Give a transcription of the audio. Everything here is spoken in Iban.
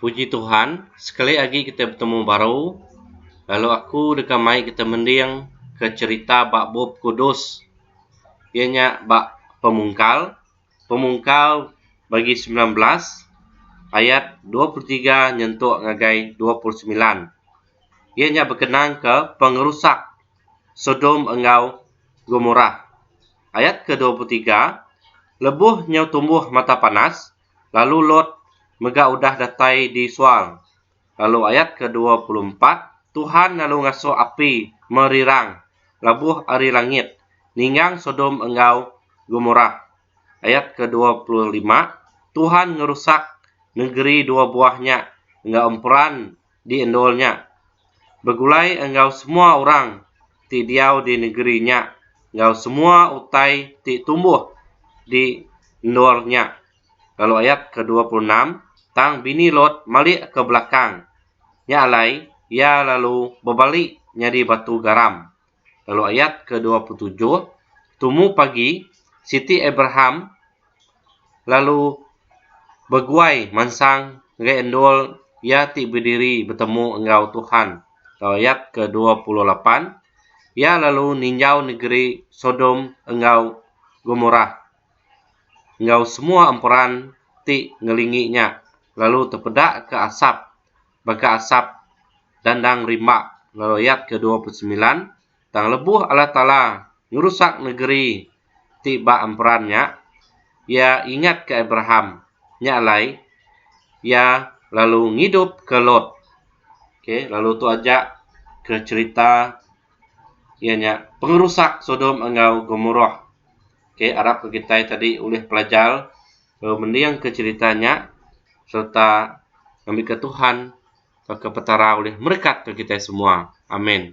Puji Tuhan, sekali agi kita betemu baru, lalu aku deka mai kita mending ke cherita ba bup kudus iya nya ba pemungkal, pemungkal bagi sembilan belas ayat dua puluh tiga nyentuk ngagai dua puluh semilan. Iya nya bekenang ke pengerusak Sodom enggau Gomorah. Ayat ke dua puluh tiga, lebuh nyau tumbuh mata panas, lalu Lot mega udah datai di suang. Lalu ayat ke dua puluh empat, Tuhan lalu ngasuh api merirang labuh ari langit ninggang Sodom enggau Gomorah. Ayat ke dua puluh lima, Tuhan ngerusak nengeri dua buah nya enggau emperan di endur nya, begulai enggau semua orang ti diau di negeri nya enggau semua utai ti tumbuh di endur nya. Lalu ayat ke dua puluh enam, Tang bini Lot malik ke belakang, nya alai iya lalu bebali nyadi batu garam. lalu ayat ke dua puluh tujuh, tumu pagi siti Abraham lalu beguai mansang ngagai endul iya ti bediri betemu enggau Tuhan, lalu ayat ke dua puluh lapan, iya lalu ninjau negeri Sodom enggau Gomorah enggau semua emperan ti ngelingi nya, lalu tepeda ke asap baka asap dandang rimba lalu ayat ke dua puluh semilan tang lebuh Allah Taala ngerusak negeri ti ba emperan nya iya ingat ke Abraham nya alai iya lalu ngidup ke Lot okay lalu tu aja ke cerita iya nya pengerusak sodom enggau gomorah okay arap ke kitai tadi ulih pelajar lalu mendingka cherita nya sereta ngambika Tuhan tauka Petara ulih merekatke kitai semua. Amin.